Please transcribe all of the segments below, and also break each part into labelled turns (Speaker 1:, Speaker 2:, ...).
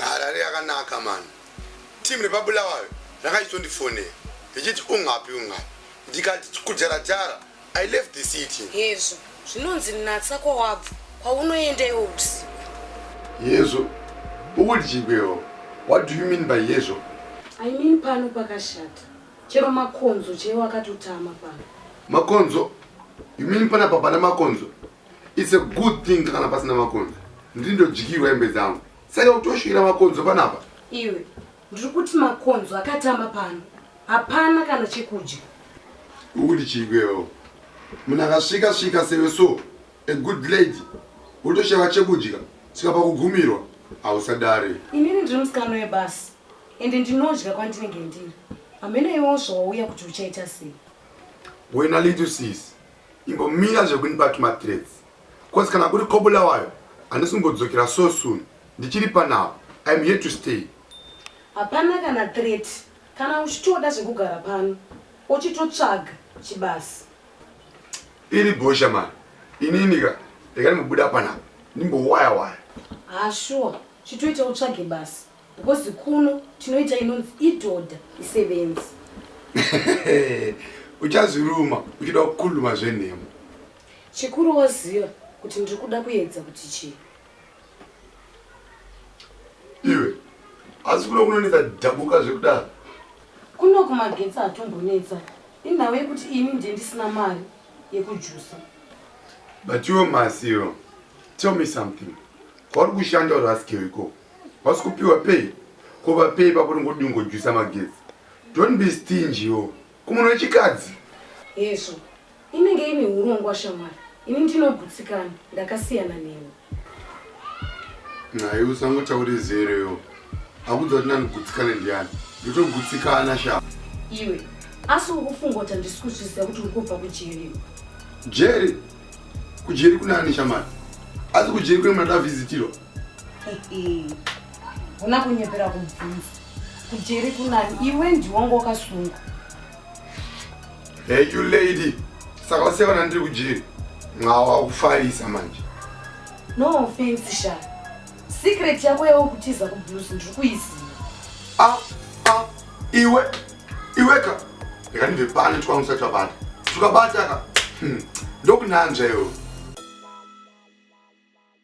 Speaker 1: Harare yakanaka mani. Team repabulawayo rakachitondifonera richiti ungapi ungapi ndikati kujara jara I left the city. Hezvo zvinonzi
Speaker 2: natsa kwawabva kwaunoenda iwo usiku. Hezvo
Speaker 1: ukuti chigwewo what do you mean by hezvo? I mean
Speaker 2: pano pakashata chero makonzo chaiwo akatotama pano. Makonzo?
Speaker 1: You mean panapa pana makonzo? It's a good thing kana pasina makonzo. Ndiri ndodyirwa hembe dzangu. Saka utoshira makonzo panapa. Iwe
Speaker 2: ndiri kuti makonzo akatama pano. Hapana kana chekudya. Uri
Speaker 1: chigwewo. Munhu akasvika svika sewe so a good lady wotoshava chekudya saka pakugumirwa hausadare. Inini ndiri musikano
Speaker 2: webasa ende ndinodya kwandinenge ndiri. Hamene iwo zvawauya kuti uchaita sei. Wena
Speaker 1: little sis. Imbomira zvekundipa tuma threats coz kana uri Kobulawayo handisi kumbodzokera so soon ndichiri pano apa I am here to stay. Hapana
Speaker 2: kana threat kana uchitoda zvekugara pano ochitotsvaga chibasa.
Speaker 1: Iri bhosha mhani inini ka rega ndimbobuda pano apa ndimbowaya waya. Haa sure
Speaker 2: chitoita utsvage basa. Because kuno tinoita inonzi idhodha isevenzi.
Speaker 1: Uchazviruma uchida kukuluma zvenhema. Chikuru
Speaker 2: waziva kuti ndiri kuda kuedza kuti chii.
Speaker 1: Iwe asi kuno kunonetsa dhabuka zvekudaro. Kuno
Speaker 2: kumagetsi hatombonetsa inhau yekuti ini ndiye ndisina mari yekujusa.
Speaker 1: But iwe masiyo tell me something kwauri kushanda uri asikeiko. Wasi kupiwa pay ko vapei pako ringodii ngojuisa magetsi don't be stingy yo kumunhu wechikadzi hezvo
Speaker 2: inenge ine urongwa shamwari ini ndinogutsikana ndakasiyana neni
Speaker 1: naye usangotaure zero yo akudza kuti ndandigutsikane ndiyani ndotogutsikana sha iwe
Speaker 2: asi uri kufunga kuti handisi kuzviziva kuti uri kubva kujeri jeri
Speaker 1: kujeri kunaani shamari asi kujeri kune muna davhizitirwa
Speaker 2: huna kunyepera kubvunza kujeri kunani iwe ndiwonga wakasunga
Speaker 1: hey you lady saka usiyaona ndiri kujeri mwawa kufarisa manje no
Speaker 2: offense sha secret yako yawo kutiza kublues ndiri kuiziva ah ah iwe
Speaker 1: iwe ka reka ndibve pano tikwanga usati wabata tukabata ka hmm. ndokunanzva iwe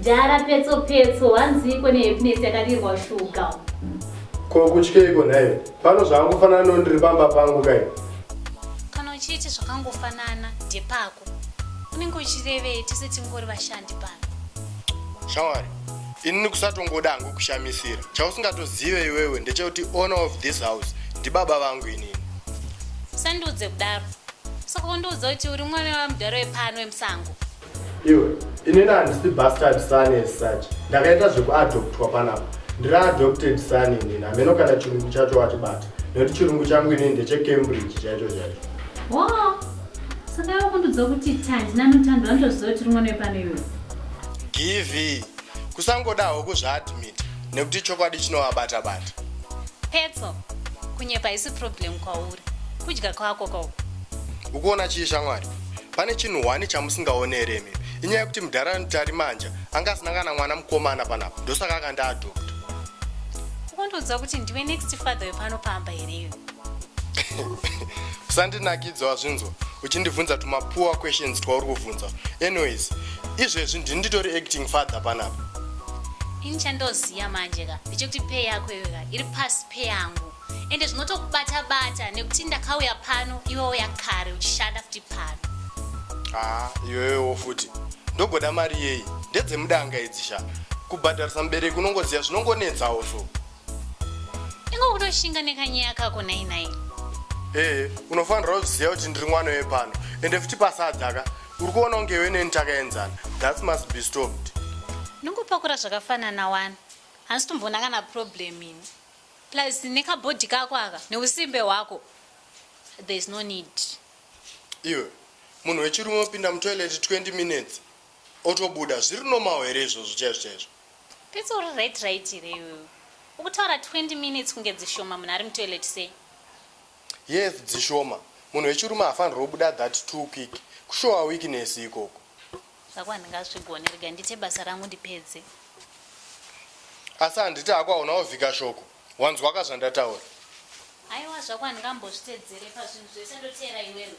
Speaker 3: Jara petso petso wanziiko nehappiness yakadirwa shuga. Ko
Speaker 4: kutyeiko nhai? Pano zvakangofanana no ndiri pamba pangu kai. Kana
Speaker 3: uchiti zvakangofanana ndepako. Unenge uchirevei tese tingori vashandi pano. Shamwari,
Speaker 1: inini kusatongoda hangu kushamisira. Chausingatozive iwewe ndechekuti owner of this house ndibaba vangu inini. Usandiudze
Speaker 3: kudaro. Saka undiudza kuti uri mwana wamudhara wepano wemusango. Iwe,
Speaker 4: ini handisi bastard son as such. Ndakaita zvekuadoptwa panapa. Ndiri adopted son inini, hameno kana chirungu chacho wachibata. Nekuti chirungu changu inini ndecheCambridge chaicho chaicho. Wow.
Speaker 3: Saka iwe kundiudza kuti Tandi naNotando vanotoziva kuti uri mwana wepano iwe. Givi,
Speaker 1: kusangodawo kuzviadmita nekuti chokwadi chinovabata bata petso
Speaker 3: kunyepa haisi problem kwauri kudya kwako kwauko ukuona
Speaker 1: chii shamwari pane chinhu hwani chamusingaone here imimi inyaya yekuti mudhara anotari manja anga asina kana mwana mukomana panapa ndosaka akandiadopta
Speaker 3: ukondiudza kuti ndiwe next father wepano pamba here iyo
Speaker 1: usandinakidza wazvinzwa uchindibvunza tumapoor questions twauri kubvunza anyways izvezvi ndini nditori acting father panapa ini
Speaker 3: chandoziva manje ka ndechekuti pay yako iwe ka iri pasi pay yangu ende zvinotokubata bata nekuti ndakauya pano iwe uya kare uchishanda futi pano haa
Speaker 1: iwewewo futi ndogoda mari yeyi ndedzemudanga idzi sha kubhadharisa mubereki unongoziva zvinongonetsawo so
Speaker 3: Ingo kutoshinga nekanyeya kako nhai
Speaker 1: nhai.
Speaker 3: Ee, unofanirwa
Speaker 4: kuziva kuti ndiri mwana wepano ende futi pasadzaka uri kuona kunge iwe neni takaenzana. That must be stopped. Ndingopakura
Speaker 3: zvakafanana wani. Hansi tomboona kana problem ini. Plus nekabody kako aka neusimbe hwako. There is no need. Iwe,
Speaker 4: munhu wechirume opinda mutoilet 20 minutes otobuda zviri normal here izvozvo chaizvo chaizvo? Petso uri
Speaker 3: right right here iwewe? Ukutaura 20 minutes kunge dzishoma munhu ari mutoilet sei? Yes
Speaker 4: dzishoma. Munhu wechirume haafanirwe kubuda that too quick. Kushowa weakness ikoko. Zvako
Speaker 3: handingazvigone rega ndiite basa rangu ndipedze.
Speaker 4: Asi handiti hako hauna wovhika shoko. Wanzwa ka zvandataura? Aiwa
Speaker 3: zvako handingambozvitedzere pazvinhu zvese ndoteera iwewe.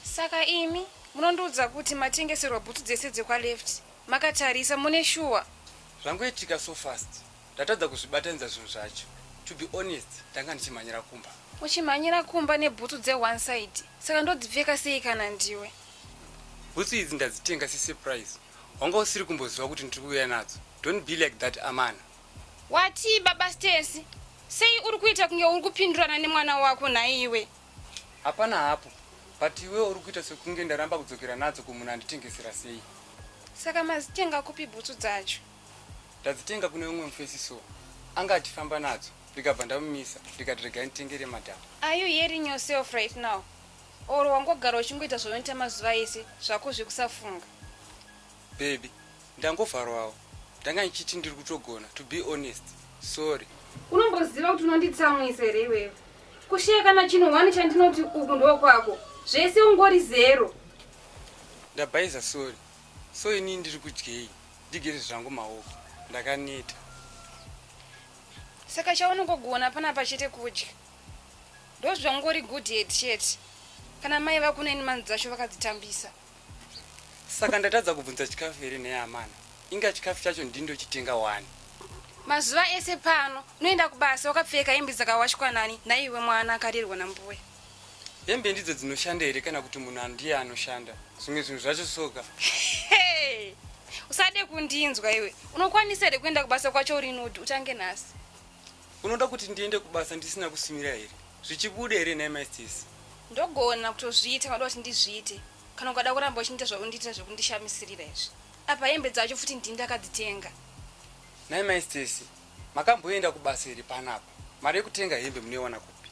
Speaker 2: saka imi munondiudza kuti matengeserwa bhutsu dzese dzekwaleft makatarisa mune shuwa zvangoitika
Speaker 5: so fast ndatadza kuzvibatanidza zvinhu zvacho to be honest ndanga ndichimhanyira kumba uchimhanyira kumba
Speaker 2: nebhutsu dzeone side saka ndodzipfeka sei kana ndiwe bhutsu
Speaker 5: idzi ndadzitenga sesurprise wanga usiri kumboziva kuti ndiri kuuya nadzo don't be like that amana Watii
Speaker 2: baba Stacey? Sei uri kuita kunge uri kupindurana nemwana wako nhaiwe? Hapana
Speaker 5: hapo. But iwe uri kuita sekunge ndaramba kudzokera nadzo kumunhu anditengesera sei? Saka
Speaker 2: mazitenga kupi bhutsu dzacho? Ndadzitenga
Speaker 5: kune umwe mufesi so. Anga achifamba nadzo ndikabva ndamumisa ndikati regai nditengere madam. Are you hearing
Speaker 2: yourself right now? Or wangogara uchingoita zvaunoita mazuva ese zvako zvekusafunga?
Speaker 5: Babe ndangovharwawo ndanga ndichiti ndiri kutogona to be honest sorry. Unomboziva kuti
Speaker 2: unonditsamwisa here iwewe? Kushiya kana chinhu one chandinoti uku ndokwako zvese ungori zero.
Speaker 5: Ndabhaiza sorry so inini ndiri kudyei ndigeze zvangu maoko ndakaneta.
Speaker 2: Saka chaunongogona panapa chete kudya ndozvangori good head chete kana mai vakuneni manzi dzacho vakadzitambisa.
Speaker 5: Saka ndatadza kubvunza chikafu here nhai amana? Inga chikafu chacho ndindochitenga wani. Mazuva
Speaker 2: ese pano unoenda kubasa wakapfeka hembe dzakawashwa nani naiwe mwana akarerwa nambuya. Hembe
Speaker 5: ndidzo dzinoshanda here kana kuti munhu andiye anoshanda? Zvimwe zvinhu zvacho soka. Hey!
Speaker 2: Usade kundinzwa iwe. Unokwanisa here kuenda kubasa kwacho uri nodi utange nhasi. Unoda
Speaker 5: kuti ndiende kubasa ndisina kusimira here? Zvichibuda here nhai mai Stacey? Ndogona
Speaker 2: kutozviita kana kuti ndizviite. Kana ukada kuramba uchindiita zvaundiitira zvekundishamisirira izvi. Apa hembe dzacho futi ndini ndakadzitenga. Nhai mai
Speaker 5: Stacey, makamboenda kubasa here panapa? Mari yekutenga hembe munoiwana kupi?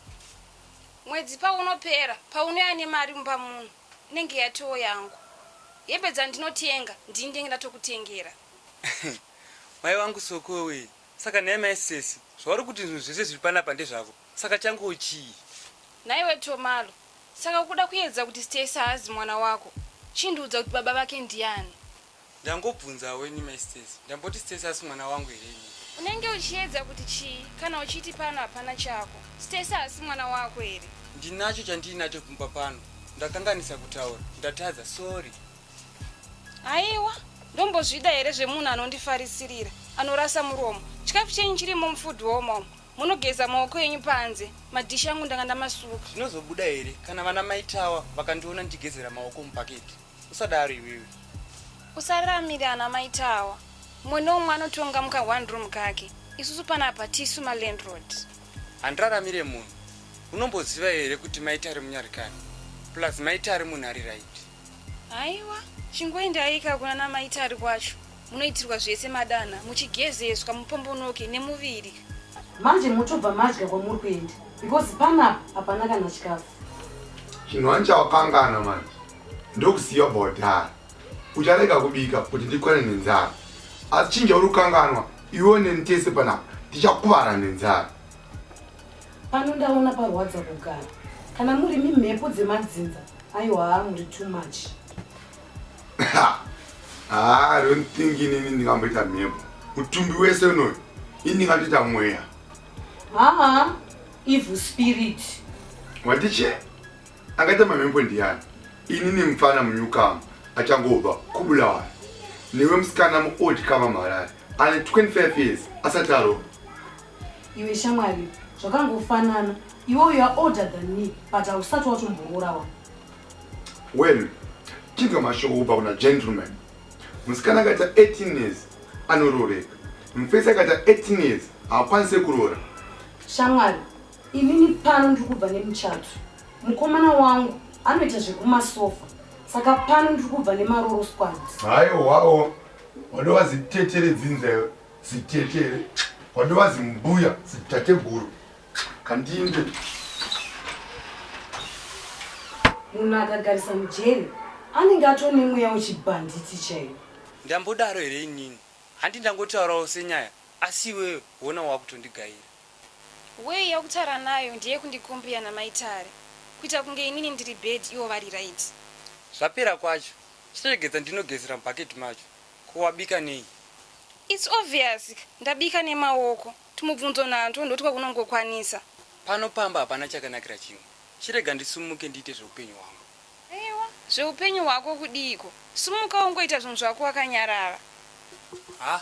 Speaker 5: Mwedzi
Speaker 2: paunopera, paunouya nemari mumba muno, inenge yatoo yangu. Hembe dzandinotenga ndini ndenge ndatokutengera.
Speaker 5: Mai wangu Sokowe, Saka nhai mai sesi zvauri kuti zvinhu zvese zviri panapa ndezvako saka changu chii. Nhaiwe
Speaker 2: Tomalo saka ukuda kuedza kuti Stacey haazi mwana wako chindiudza kuti baba vake ndiani. Ndangobvunzawo
Speaker 5: ini mai Stacey ndamboti Stacey hasi mwana wangu here ini. Unenge uchiedza
Speaker 2: kuti chii kana uchiti pano hapana chako Stacey hasi mwana wako here. Ndinacho chandiinacho
Speaker 5: mumba pano ndakanganisa kutaura ndatadza sorry.
Speaker 2: aiwa ndombozvida here zvemunhu anondifarisirira anorasa muromo chikafu chenyu chirimo mufood womo munogeza maoko enyu panze madhishi angu ndanga ndamasuka zvinozobuda here
Speaker 5: kana vana maitawa vakandiona ndichigezera maoko mupaketi usadaro iwewe usararamire
Speaker 2: ana maitawa mumwe nomwe anotonga muka one room kake isusu panapa tisu malandrod handiraramire
Speaker 5: munhu unomboziva here kuti maita ari munyarikani plus maita ari munhu ari right Haiwa,
Speaker 2: chingoendaika kuna namai Tari kwacho. Munoitirwa zvese madana, muchigezeswa, mupombonoke nemuviri. Manje
Speaker 6: motobva madya kwamuri kuenda because panapa hapana kana chikafu. Chinhu
Speaker 1: wani chawakangana manje ndokusiya ubva wadhara. Ucharega kubika kuti ndikwane nenzara. Asi chinja uri kukanganwa iwe neni tese panapa tichakuvara nenzara.
Speaker 6: Pano ndaona parwadza kugara. Kana muri mi mhepo dzemadzinza, aiwa muri too much.
Speaker 1: Ah, don't think ini ndingamboita mhepo. Mutumbi wese unoyu, ini ndingatoita mweya. Haa,
Speaker 6: evil spirit. Watiche?
Speaker 1: Akaita mamhepo ndiyani? Ini ni mfana munyukamu, achangobva kubulawayo. Niwe msikana mu old kama marari. Ane 25 years, asataro.
Speaker 6: Iwe shamwari, zvakangofanana. Iwe you are older than me, but hausati watomboroora wa.
Speaker 1: Well, chinzwa mashoko kubva kuna gentleman. Musikana akaita 18 years anorooreka. Mufesi akaita 18 years haakwanise kuroora. Shamwari,
Speaker 6: inini pano ndiri kubva nemuchato. Mukomana wangu anoita zvekumasofa. Saka pano ndiri kubva nemaroro squads. Haiwawo,
Speaker 1: wadova zitetere dzinza iwe. Sitete here? Kwandiva zimbuya sitateguru. Kandinde.
Speaker 6: Munhu akagarisa mujeri anenge atone mweya wechibhanditi chaiyo. Ndambodaro here
Speaker 5: inini? Handi ndangotaurawo senyaya asi iwewe wona wakutondigaira. Way
Speaker 2: yakutaura nayo ndeye kundicompare namai Tare. Kuita kunge inini ndiri bad ivo vari right. Zvapera
Speaker 5: kwacho. Chiregedza ndinogezera mubucket macho. Ko wabika nei? It's
Speaker 2: obvious ndabika nemaoko. Tumubvunzo nantwo ndotwa kunongokwanisa. Pano pamba
Speaker 5: hapana chakanakira chimwe. Chirega ndisumuke ndiite zveupenyu hwangu. Aiwa,
Speaker 2: zveupenyu hwako kudiiko? Sumuka ungoita zvinhu zvako wakanyarara. Haa.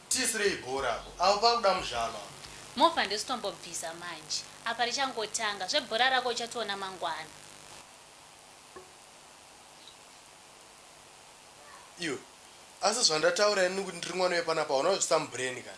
Speaker 4: Tisirei bhora apo. Apo pakuda muzvaro apo. Movha
Speaker 3: ndositombobvisa manje apa richangotanga. Zvebhora rako uchationa mangwana.
Speaker 4: Iwe asi zvandataura ini kuti ndiri mwana wepanapa hauna zvisamu brain kana.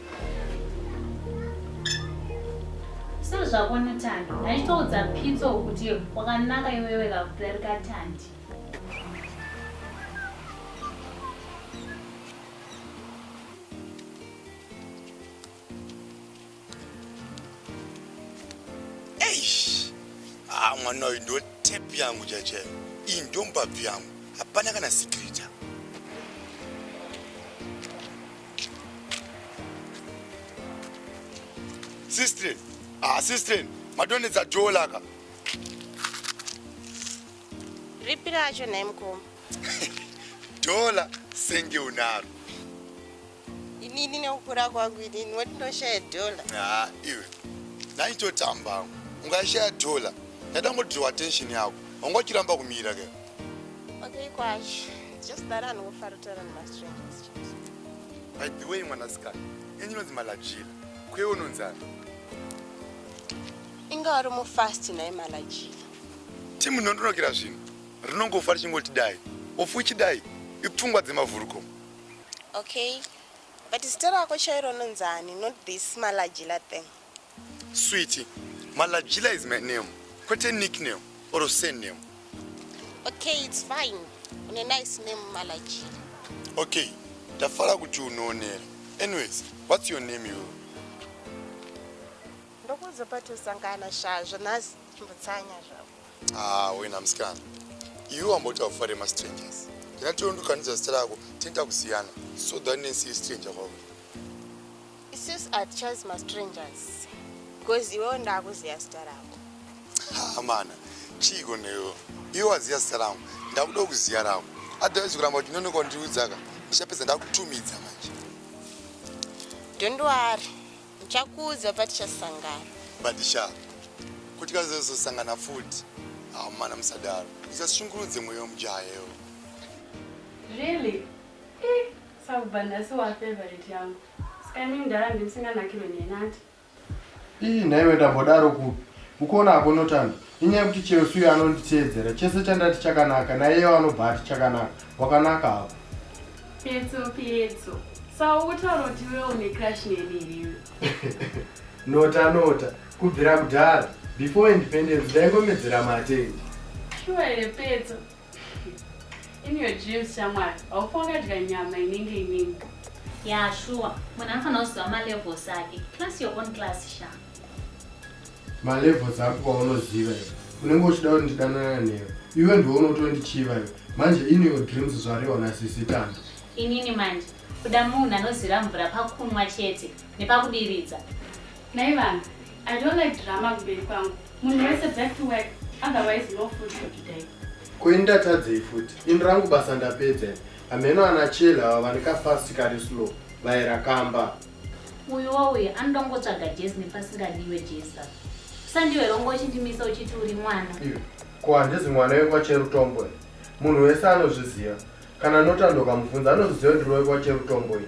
Speaker 3: sezvako notandi ndachitoudza pitso kuti wakanaka iwewe kakudarika tandi
Speaker 1: ah, mwana uyu ndo tep yangu chachayo iyi ndombabvu yangu hapana kana sikirita Sister, ah sister, madonedza door laka.
Speaker 7: Ripi racho nhai mukoma?
Speaker 1: Dola senge unaro.
Speaker 7: Inini nekukura kwangu inini woti ndoshaya dola. Ah, iwe.
Speaker 1: Nhai totamba. Ungashaya dola. Ndada ngodraw attention yako. Ungachiramba kumira ke. Okay
Speaker 7: kwacho. Just that anofara kutaura nemastrangers. By
Speaker 1: the way, mwanasikana, ini ndinonzi Malajila, kwewe unonzani?
Speaker 7: Inga wari mufast naye Malajila. Timu
Speaker 1: ndondonokera zvinhu rinongofa richingoti dai ofu chidai ipfungwa dzemavhuruko. Okay,
Speaker 7: but zita rako chairo unonzani, not this Malajila thing.
Speaker 1: Sweetie, Malajila is my name, kwete nickname or surname. Okay,
Speaker 7: it's fine. Une nice name Malajila. Okay,
Speaker 1: ndafara kuti unoonera. Anyways, what's your name you?
Speaker 7: Ndokuudza patosangana shaa zvanhasi chimbotsanya zvavo. Ah, wena musikana.
Speaker 1: Iwe wamboti haufare mastrangers. Ndinatiwo ndokanidza zita rako, tinoita kusiyana. So that nesi stranger kwauri.
Speaker 7: Sis atichazi mastrangers because iwewo ndakuziva zita rako. Hamana,
Speaker 1: chiiko newe? Iwe waziva zita rangu, ndakuda kuziva rako. Otherwise kuramba uchinonoka undiudzaka, ndichapedza ndakutumidza manje.
Speaker 7: Don't worry, ndichakuudza patichasangana.
Speaker 1: Badisha, kuti kazozosangana
Speaker 7: futi.
Speaker 1: Hamana musadaro, usashungurudze mwoyo wemujayewo. Really?
Speaker 8: Eh, sakubva nhasi wa favorite yangu. Saka imi mdara ndimsinganakirwe neni ati. Ii
Speaker 4: nhaiwe ndambodaro kupi. Ukuona hako Notando. Inyaya yekuti Chelsea uyo anonditeedzera chese chandati chakanaka naiyewo anobva ati chakanaka. Wakanaka hako. Petso
Speaker 8: petso. Saka ukutaura kuti iwe une crush neni here? Nota
Speaker 4: nota. Kubvira kudhara. Before independence ndaingomedzera mate. Sure here
Speaker 8: petso? In your dreams shamwari, haufa wakadya nyama inenge inini. Ya sure,
Speaker 3: munhu anofanira kuziva malevels ake. Class your own class sha.
Speaker 4: Malevels ako paunoziva iwe. Unenge uchida kuti ndidanana newe. Iwe ndiwe unotondichiva iwe. Manje in your dreams zvarewa na sisi Tando. Inini manje
Speaker 3: kuda munhu anozira mvura pakunwa chete nepakudiridza. Naivanhu,
Speaker 8: I don't like drama kumberi kwangu. Munhu wese back to work otherwise no food for today. Kuinda tadzei
Speaker 4: futi. Ini rangu basa ndapedza. Hameno ana chela ava vane ka fast kari slow. Vaera kamba. Uyu wauye
Speaker 3: anoda kungotsvaga jezi nepasingadiwe jezi apa. Sandiwe rongo uchindimisa uchiti uri mwana. Iyo. Ko handizi
Speaker 4: mwana wekwa Cherutombo. Munhu wese anozviziva. Kana nota ndokamubvunza anozviziva ndiri wekwa Cherutombo ini.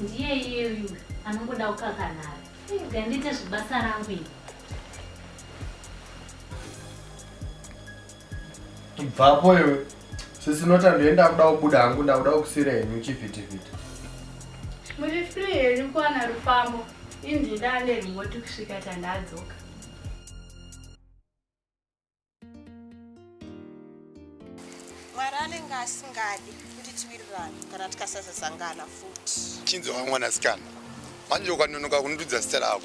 Speaker 3: Ndiye iye uyu anongoda kukakanhara. Iga ndiite zvibasa rangu iri.
Speaker 4: Ibvapo iwe. Sisi Nota ndoenda kuda kubuda hangu ndakuda kukusira henyu chivhitivhiti.
Speaker 8: Muri free here kuwana rufambo? Indida ane remote kusvika tandadzoka.
Speaker 7: mwari anenge asingadi kuti tiwirirane kana tikasazosangana futi chinzi wa mwanasikana
Speaker 1: manje ukanonoka kundiudza zita rako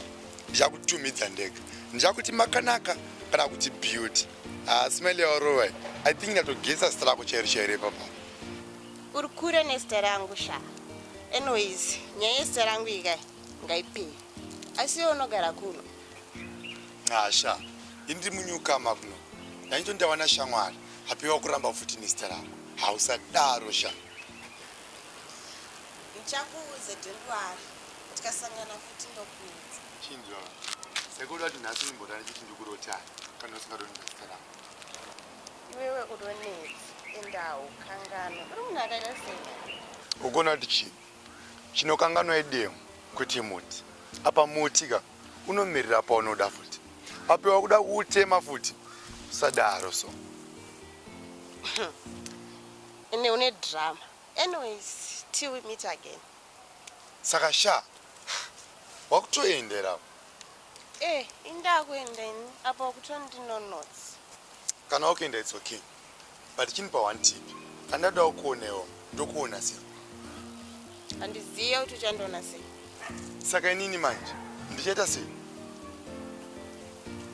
Speaker 1: ndichakutumidza ndega ndichakuti makanaka kana kuti beauty ah, smile yaorowa i think ndatogesa zita rako chairo chairo ipapa uri
Speaker 7: kure nezita rangu sha anyways nyaya yezita rangu ikai ngaipei asi iwe unogara kuno
Speaker 1: Asha, indi munyuka makuno. Ndainjo ndawana shamwari. Hapiwa kuramba futi nezita rangu. Hausadaro sha. Ndichakuudza
Speaker 7: Dendwari. Tikasangana futi ndokuudza. Chinjo.
Speaker 1: Sekuru ati nhasi ndimbodana chiti ndikurota kana usingadoni nezita rangu.
Speaker 7: Iwewe udonezi endawo kangano. Uri munhu akaita sei? Ukona kuti
Speaker 1: chii? Chinokanganwa idemo kuti muti. Apa muti ka. unomirira paunoda futi apo wakuda kuutema futi usadaro so
Speaker 7: ene une drama anyways till we meet again saka
Speaker 1: sha wakutoendera eh indakuenda
Speaker 7: ini apo wakutondinonotsi kana wakuenda
Speaker 1: it's okay but chindipa one tip andadawo kuonewo ndokuona sei
Speaker 7: handizive kuti uchandiona sei saka inini
Speaker 1: manje ndichaita sei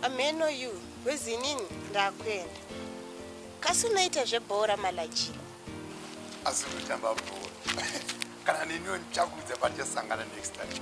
Speaker 7: ameno you wezi inini ndakuenda kasi unoita zvebhora malaji
Speaker 1: asi unotamba bhora kana neniwo ndichakudza patichasangana next time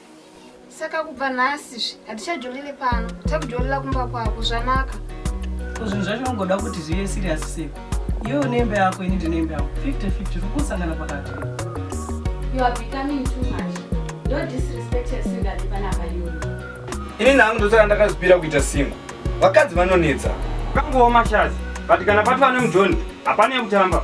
Speaker 9: Saka
Speaker 10: kubva nhasi zvi hatichajolini pano, takujolila kumba kwako zvanaka. Ko zvinhu
Speaker 11: zvacho ungoda kuti zvive serious seko. Iwe une imba yako, ini ndine imba yangu. 50-50 zvikusangana pakati. You are becoming
Speaker 8: too much. Don't disrespect your singer panapa iwe. Ini
Speaker 5: nangu ndosaka ndakazvipira kuita singo. Vakadzi vanonetsa.
Speaker 12: Kangowo mashazi, but kana pati vane mujoni, hapana yekutamba.